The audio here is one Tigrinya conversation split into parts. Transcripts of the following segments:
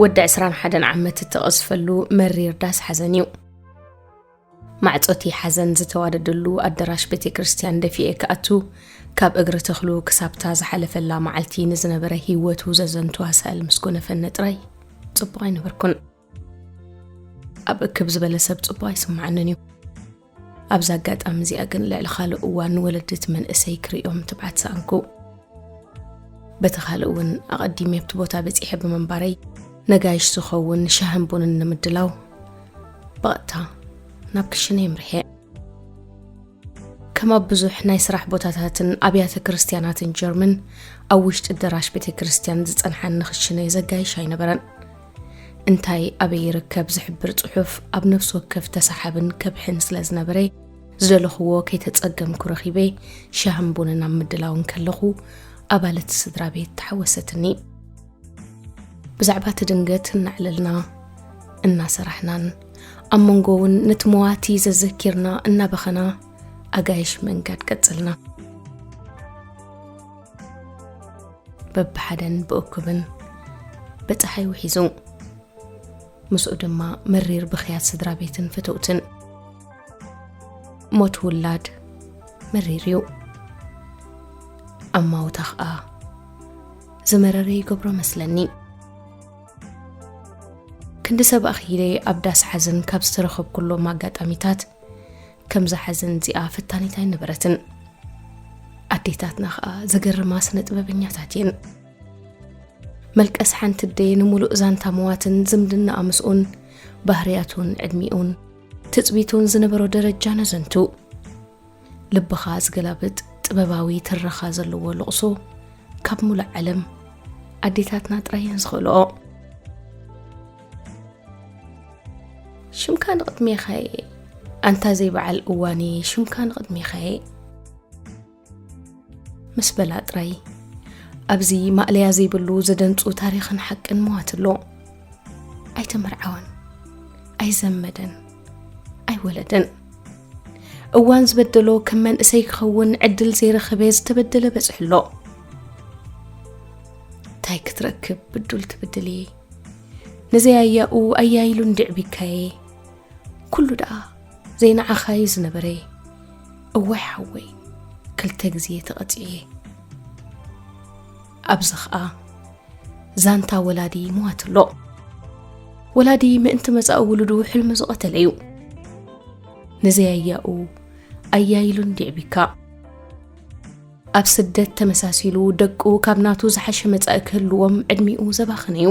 ወዲ ዕስራን ሓደን ዓመት እተቐዝፈሉ መሪር ዳስ ሓዘን እዩ ማዕፆቲ ሓዘን ዝተዋደደሉ ኣደራሽ ቤተ ክርስትያን ደፊኤ ክኣቱ ካብ እግሪ ተኽሉ ክሳብታ ዝሓለፈላ መዓልቲ ንዝነበረ ህይወቱ ዘዘንቱ ኣሳእል ምስ ጎነፈኒ ጥራይ ፅቡቕ ኣይነበርኩን ኣብ እክብ ዝበለ ሰብ ፅቡ ኣይስማዓንን እዩ ኣብዚ ኣጋጣሚ እዚኣ ግን ልዕሊ ካልእ እዋን ወለድት መንእሰይ ክርእዮም ትብዓት ሰኣንኩ በቲ ካልእ እውን ኣቐዲመ ኣብቲ ቦታ በፂሐ ብምንባረይ ነጋይሽ ዝኸውን ሻህን ቡንን ንምድላው ብቐጥታ ናብ ክሽነ የምርሐ ከም ኣብ ብዙሕ ናይ ስራሕ ቦታታትን ኣብያተ ክርስትያናትን ጀርመን ኣብ ውሽጢ ደራሽ ቤተ ክርስትያን ዝፀንሓኒ ክሽነ ዘጋይሽ ኣይነበረን እንታይ ኣበይ ይርከብ ዝሕብር ጽሑፍ ኣብ ነፍሲ ወከፍ ተሳሓብን ከብሕን ስለ ዝነበረ ዝደለኹዎ ከይተጸገምኩ ረኺበ ሻህን ቡንን ኣብ ምድላውን ከለኹ ኣባለት ስድራ ቤት ተሓወሰትኒ ብዛዕባ እቲ ድንገት እናዕለልና እናሰራሕናን ኣብ መንጎ እውን ነቲ መዋቲ ዘዘኪርና እናበኸና ኣጋይሽ መንጋድ ቀጽልና በብሓደን ብእኩብን ብፀሓይ ውሒዙ ምስኡ ድማ መሪር ብኽያት ስድራ ቤትን ፍትውትን ሞት ውላድ መሪር እዩ ኣማውታ ኸኣ ዝመረረ ይገብሮ መስለኒ ክንዲ ሰብ ኣኽኢለ ኣብ ዳስ ሓዘን ካብ ዝተረኸብኩሎም ኣጋጣሚታት ከምዛ ሐዘን እዚኣ ፈታኒት ኣይነበረትን ኣዴታትና ኸዓ ዘገርማ ስነ ጥበበኛታት እየን መልቀስ ሓንቲ ደየ ንምሉእ ዛንታ መዋትን ዝምድና ኣምስኡን ባህርያቱን ዕድሚኡን ትፅቢቱን ዝነበሮ ደረጃ ነዘንቱ ልብኻ ዝገላብጥ ጥበባዊ ትረኻ ዘለዎ ልቕሶ ካብ ሙሉእ ዓለም ኣዴታትና ጥራየን ዝኽእልኦ ሽምካ ንቕድሜኻ እየ ኣንታ ዘይበዓል እዋን እየ ሽምካ ንቕድሜኻ እየ ምስ በላ ጥራይ ኣብዚ ማእለያ ዘይብሉ ዘደንፁ ታሪኽን ሓቅን መዋት ኣሎ ኣይተመርዓወን ኣይዘመደን ኣይወለደን እዋን ዝበደሎ ከም መንእሰይ ክኸውን ዕድል ዘይረኸበ ዝተበደለ በፅሕሎ እንታይ ክትረክብ ብዱል ትብድል እየ ነዘይ ኣያኡ ኣያይሉ እንድዕቢካየ ኩሉ ደኣ ዘይንዓኻዩ ዝነበረ እዋይ ሓወይ ክልተ ግዜ ተቐፂየ ኣብዚ ኸዓ ዛንታ ወላዲ ሞዋትሎ ወላዲ ምእንቲ መፃኢ ውሉዱ ሕልሚ ዝቐተለ እዩ ነዘይ ኣያኡ ኣያይሉ እንድዕቢካ ኣብ ስደት ተመሳሲሉ ደቁ ካብ ናቱ ዝሓሸ መጻኢ ክህልዎም ዕድሚኡ ዘባኽን እዩ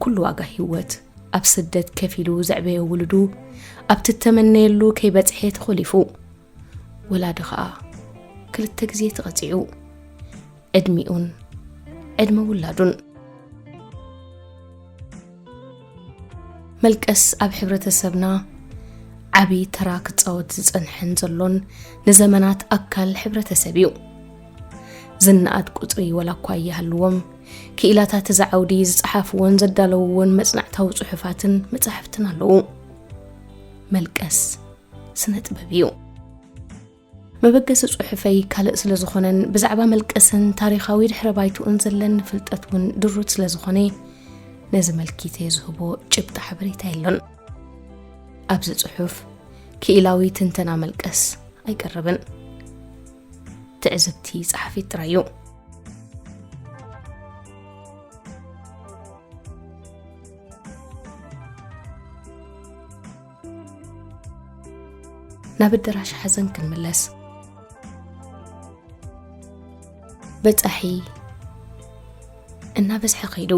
ኩሉ ዋጋ ህይወት ኣብ ስደት ከፊሉ ዘዕበዮ ውሉዱ ኣብቲ እተመነየሉ ከይበጽሐ ተኾሊፉ ወላዲ ኸኣ ክልተ ግዜ ተቐጺዑ ዕድሚኡን ዕድመ ውላዱን መልቀስ ኣብ ሕብረተሰብና ዓቢ ተራ ክጻወት ዝጸንሐን ዘሎን ንዘመናት ኣካል ሕብረተሰብ እዩ ዝነኣድ ቁጽሪ ወላ እኳ እያሃልዎም ክኢላታት እዚ ዓውዲ ዝጸሓፍዎን ዘዳለውዎን መጽናዕታዊ ጽሑፋትን መጻሕፍትን ኣለዉ መልቀስ ስነ ጥበብ እዩ መበገሲ ጽሑፈይ ካልእ ስለ ዝኾነን ብዛዕባ መልቀስን ታሪኻዊ ድሕረ ባይትኡን ዘለኒ ፍልጠት እውን ድሩት ስለ ዝኾነ ነዚ መልኪተ ዝህቦ ጭብጢ ሓበሬታ የሎን ኣብዚ ጽሑፍ ክኢላዊ ትንተና መልቀስ ኣይቀርብን ትዕዝብቲ ጸሓፊት ጥራይ እዩ ናብ ኣደራሽ ሓዘን ክንምለስ በፃሒ እናበዝሐ ከይዱ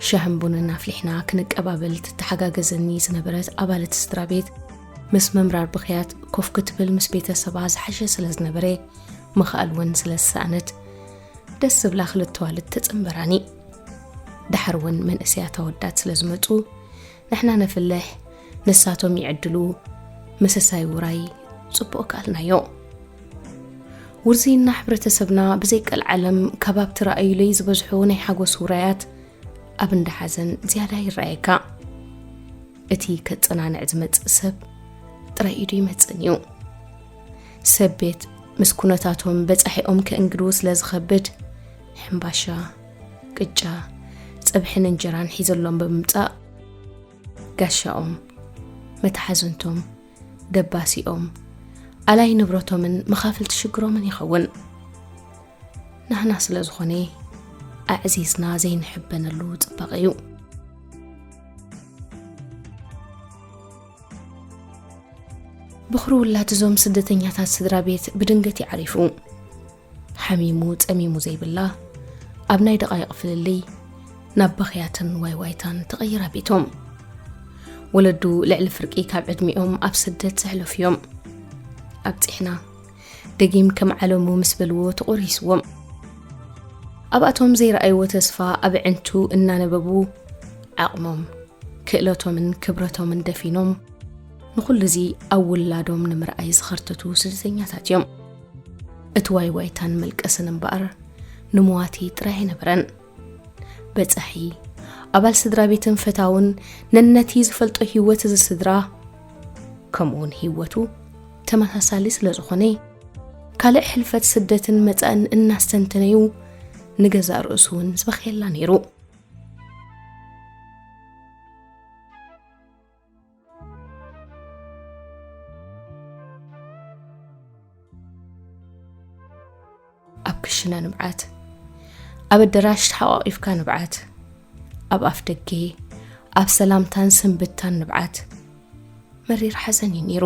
ሻህን ቡንን ኣፍሊሕና ክንቀባበል ትተሓጋገዘኒ ዝነበረት ኣባለት ስድራ ቤት ምስ ምምራር ብክያት ኮፍ ክትብል ምስ ቤተሰባ ዝሓሸ ስለ ዝነበረ ምኽኣል እውን ስለ ዝሰኣነት ደስ ዝብላ ክልተዋልት ተፅምበራኒ ድሓር እውን መንእሰያት ኣወዳት ስለ ዝመፁ ንሕና ነፍልሕ ንሳቶም ይዕድሉ መሰሳይ ውራይ ፅቡቕ ከኣልናዮ ውርዝይና ሕብረተሰብና ብዘይቀል ዓለም ከባብ ትረኣዩለይ ዝበዝሑ ናይ ሓጎስ ውራያት ኣብ እንዳ ሓዘን ዝያዳ ይረኣየካ እቲ ከፀናንዕ ዝመፅእ ሰብ ጥራይ ኢዱ ይመፅን እዩ ሰብ ቤት ምስ ኩነታቶም በፃሒኦም ከእንግድዉ ስለ ዝኸብድ ሕምባሻ፣ ቅጫ፣ ጸብሕን እንጀራን ሒዘሎም ብምምጻእ ጋሻኦም፣ መታሓዝንቶም፣ ደባሲኦም፣ ኣላይ ንብረቶምን መኻፍልቲ ሽግሮምን ይኸውን። ናህና ስለ ዝኾነ ኣዕዚዝና ዘይንሕበነሉ ጽባቐ እዩ። ብኹሪ ውላድ እዞም ስደተኛታት ስድራ ቤት ብድንገት ይዓሪፉ። ሓሚሙ ጸሚሙ ዘይብላ ኣብ ናይ ደቓይቕ ፍልልይ ናብ በኽያትን ዋይዋይታን ተቐይራ ቤቶም ወለዱ ልዕሊ ፍርቂ ካብ ዕድሚኦም ኣብ ስደት ዘሕለፉ እዮም ኣብፂሕና ደጊም ከም ዓለሙ ምስ በልዎ ተቖሪስዎም ኣብኣቶም ዘይረኣይዎ ተስፋ ኣብ ዕንቱ እናነበቡ ዓቕሞም ክእለቶምን ክብረቶምን ደፊኖም ንዅሉ እዚ ኣብ ውላዶም ንምርኣይ ዝኸርተቱ ስደተኛታት እዮም እቲ ዋይዋይታን መልቀስን እምበኣር ንመዋቲ ጥራይ ኣይነበረን። በጻሒ ኣባል ስድራ ቤትን ፈታውን ነነቲ ዝፈልጦ ህይወት እዚ ስድራ ከምኡውን ህይወቱ ተመሳሳሊ ስለ ዝኾነ ካልእ ሕልፈት ስደትን መጻእን እናስተንተነዩ ንገዛእ ርእሱ እውን ዝበኸየላ ነይሩ ኣብ ክሽነ ንብዓት ኣብ ኣደራሽ ተሓቋቒፍካ ንብዓት ኣብ ኣፍ ደጌ ኣብ ሰላምታን ስንብታን ንብዓት መሪር ሓዘን እዩ ነይሩ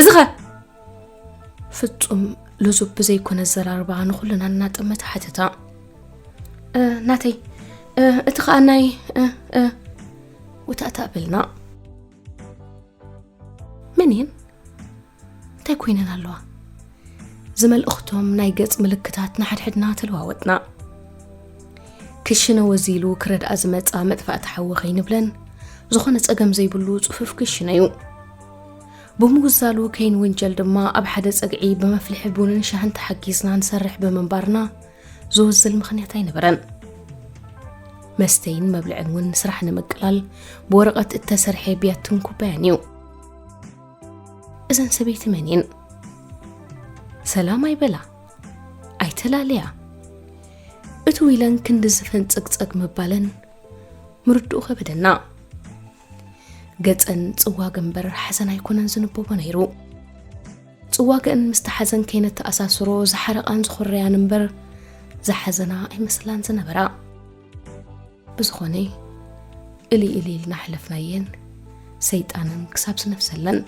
እዚ ኸ ፍጹም ልዙብ ብዘይኮነ ኣዘራርባ ንኹልና እናጠመተ ሓተታ ናተይ እቲ ከዓ ናይ ውታእታ በልና መን እየን እንታይ ኮይነን ኣለዋ ዝመልእኽቶም ናይ ገጽ ምልክታት ንሓድሕድና ተለዋወጥና ክሽነ ወዚሉ ክረድኣ ዝመፃ መጥፋእቲ ሓዊ ከይንብለን ዝኾነ ፀገም ዘይብሉ ፅፉፍ ክሽነ እዩ ብምውዛሉ ከይንውንጀል ድማ ኣብ ሓደ ፀግዒ ብመፍልሒ ቡንን ሻህን ተሓጊዝና ንሰርሕ ብምንባርና ዝወዝል ምኽንያት ኣይነበረን መስተይን መብልዕን እውን ስራሕ ንምቅላል ብወረቐት እተሰርሐ ቢያትን ኩባያን እዩ እዘን ሰበይቲ መን እየን? ሰላም ኣይበላ ኣይተላለያ እቲ ዊለን ክንዲ ዝፈንፀግፀግ ምባለን ምርድኡ ከበደና ገፀን ፅዋግ እምበር ሓዘን ኣይኮነን ዝንበቦ ነይሩ ፅዋግእን ምስቲ ሓዘን ከይነተኣሳስሮ ዝሓረቓን ዝኾረያን እምበር ዝሓዘና ኣይመስላን ዝነበራ ብዝኾነ እሊ እሊ ኢልና ኣሕለፍናየን ሰይጣንን ክሳብ ስነፍሰለን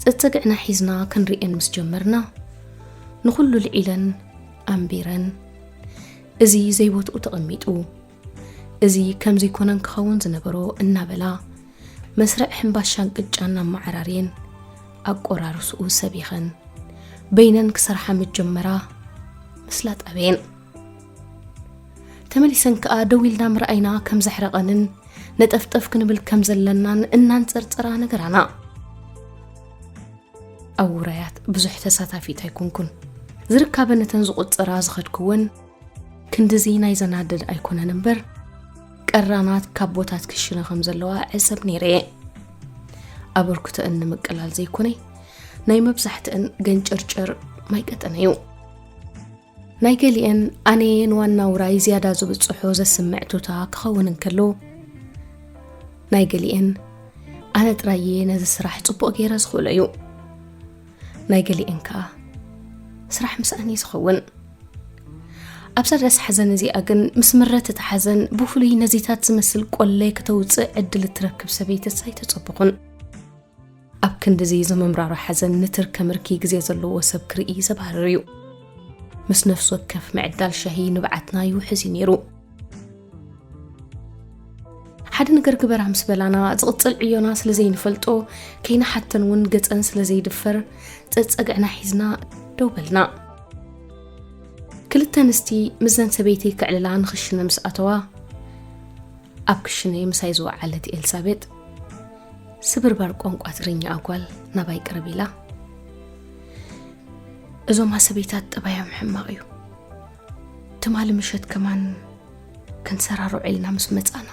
ፅፅግዕና ሒዝና ክንርኤን ምስ ጀመርና ንኹሉ ልዒለን ኣንቢረን እዚ ዘይቦትኡ ተቐሚጡ እዚ ከምዚ ኮነን ክኸውን ዝነበሮ እናበላ መስርዕ ሕምባሻን ቅጫን ኣመዓራርየን ኣቆራርስኡ ሰቢኸን በይነን ክሰርሓ ምጀመራ ምስላ ጠበየን ተመሊሰን ከኣ ደው ኢልና ምርኣይና ከም ዘሕረቐንን ነጠፍጠፍ ክንብል ከም ዘለናን እናንጸርጸራ ነገራና ኣብ ውራያት ብዙሕ ተሳታፊት ኣይኮንኩን ዝርካበ ነተን ዝቑጽራ ዝኸድክወን ክንድዚ ናይ ዘናድድ ኣይኮነን እምበር ቀራናት ካብ ቦታት ክሽነ ከም ዘለዋ ዕሰብ ነይረ እየ ኣበርክቶአን ንምቅላል ዘይኮነ ናይ መብዛሕትአን ገንጨርጨር ማይ ቀጠነ እዩ ናይ ገሊአን ኣነየ ንዋና ውራይ ዝያዳ ዝብፅሖ ዘስምዕ ቱታ ክኸውን እንከሎ ናይ ገሊአን ኣነ ጥራየ ነዚ ስራሕ ፅቡቕ ገይረ ዝኽእሎ እዩ ናይ ገሊኤን ከኣ ስራሕ ምስኣን እዩ ዝኸውን ኣብ ሰደስ ሓዘን እዚኣ ግን ምስ ምረት እቲ ሓዘን ብፍሉይ ነዚታት ዝመስል ቆለይ ክተውፅእ ዕድል እትረክብ ሰበይትስ ኣይተፀብኹን ኣብ ክንዲዚ ዘመምራሮ ሓዘን ንትርከ ምርኪ ግዜ ዘለዎ ሰብ ክርኢ ዘባርር እዩ ምስ ነፍሲ ወከፍ ምዕዳል ሻሂ ንብዓትና ይውሕዝ እዩ ነይሩ ሓደ ነገር ግበራ ምስ በላና ዝቕፅል ዕዮና ስለ ዘይንፈልጦ ከይንሓተን እውን ገፀን ስለ ዘይድፈር ፀፀግዕና ሒዝና ደው በልና ክልተ ኣንስቲ ምዘን ሰበይቲ ክዕልላ ንክሽነ ምስ ኣተዋ ኣብ ክሽነ ምሳይ ዝወዓለት ኤልሳቤጥ ስብርባር ቋንቋ ትግርኛ ኣጓል ናባይ ቅርብ ኢላ እዞም ኣሰበይታት ጠባዮም ሕማቕ እዩ ትማሊ ምሸት ከማን ክንሰራሮ ዒልና ምስ መጻና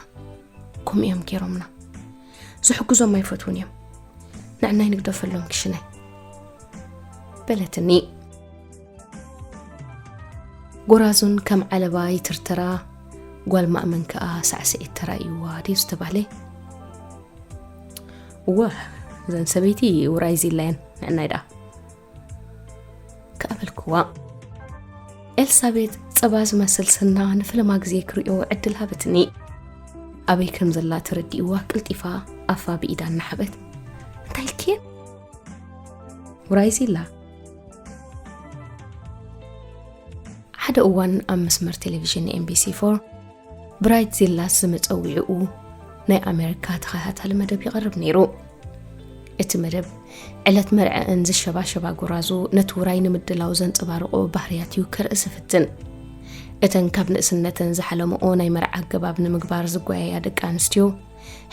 ከምኡ እዮም ገይሮምና ዝሕግዞም ኣይፈትውን እዮም ንዕናይ ንግደፈሎም ክሽነ በለትኒ ጎራዙን ከም ዓለባ ይትርተራ ጓል ማእመን ከዓ ሳዕስዒት ተራእይዋ ድዩ ዝተባህለ እወ እዘን ሰበይቲ ውራይ ዚላየን ንዕናይ ደኣ ክኣበልክዋ ኤልሳቤጥ ጸባ ዝመስል ስና ንፍለማ ግዜ ክርእዮ ዕድል ሃበትኒ ኣበይ ከም ዘላ ተረዲእዋ ቅልጢፋ ኣፋ ብኢዳ እናሓበት እንታይ ልክየ ውራይዚላ ሓደ እዋን ኣብ መስመር ቴሌቭዥን ኤምቢሲ ፎር ብራይት ዚላስ ዝመጸዊዕኡ ናይ ኣሜሪካ ተኸታታሊ መደብ ይቐርብ ነይሩ እቲ መደብ ዕለት መርዐአን ዝሸባሸባ ጎራዙ ነቲ ውራይ ንምድላው ዘንፀባርቆ ባህርያት እዩ ከርኢ ዝፍትን እተን ካብ ንእስነተን ዝሓለምኦ ናይ መርዓ ኣገባብ ንምግባር ዝጓየያ ደቂ ኣንስትዮ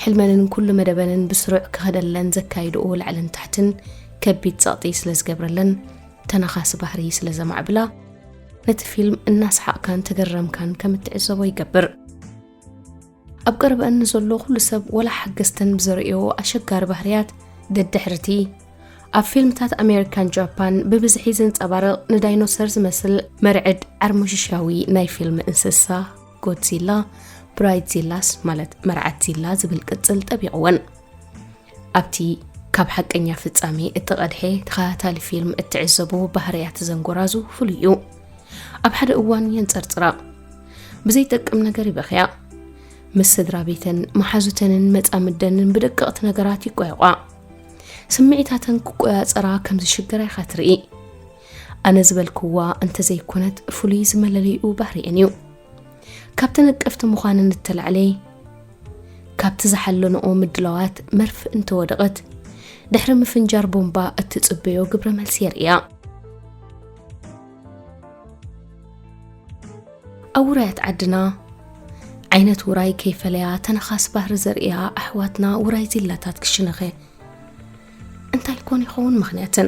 ሕልመንን ኩሉ መደበንን ብስሩዕ ክኸደለን ዘካይድኦ ላዕልን ታሕትን ከቢድ ጸቕጢ ስለ ዝገብረለን ተነኻሲ ባህሪ ስለ ዘማዕብላ ነቲ ፊልም እናሰሓቕካን ተገረምካን ከም እትዕዘቦ ይገብር ኣብ ቀረበአን ንዘሎ ኩሉ ሰብ ወላ ሓገዝተን ብዘርእዮ ኣሸጋሪ ባህርያት ደድሕርቲ ኣብ ፊልምታት ኣሜሪካን ጃፓን ብብዝሒ ዘንፀባርቕ ንዳይኖሰር ዝመስል መርዕድ ዓርሞሽሻዊ ናይ ፊልም እንስሳ ጎድዚላ ብራይትዚላስ ማለት መርዓትዚላ ዝብል ቅፅል ጠቢቕወን ኣብቲ ካብ ሓቀኛ ፍጻሜ እተቐድሐ ተኸታታሊ ፊልም እትዕዘቦ ባህርያት እዘን ጎራዙ ፍሉይ እዩ። ኣብ ሓደ እዋን የንጸርጽራ፣ ብዘይጠቅም ነገር ይበኽያ፣ ምስ ስድራ ቤተን መሓዙተንን መጻምደንን ብደቀቕቲ ነገራት ይቋየቋ። ስምዒታተን ክቆያጸራ ከም ዝሽግራ ኢኻ ትርኢ። ኣነ ዝበልክዋ እንተዘይኮነት ፍሉይ ዝመለለይኡ ባህሪኤን እዩ። ካብቲ ነቀፍቲ ምዃነን እተላዕለ፣ ካብቲ ዝሓለንኦ ምድላዋት መርፍእ እንተወደቐት ድሕሪ ምፍንጃር ቦምባ እትጽበዮ ግብረ መልሲ የርእያ። ኣብ ውራያት ዓድና ዓይነት ውራይ ከይፈለያ ተነኻስ ባህሪ ዘርእያ ኣሕዋትና ውራይ ዚላታት ክሽነኸ እንታይ ኮን ይኸውን ምኽንያትን?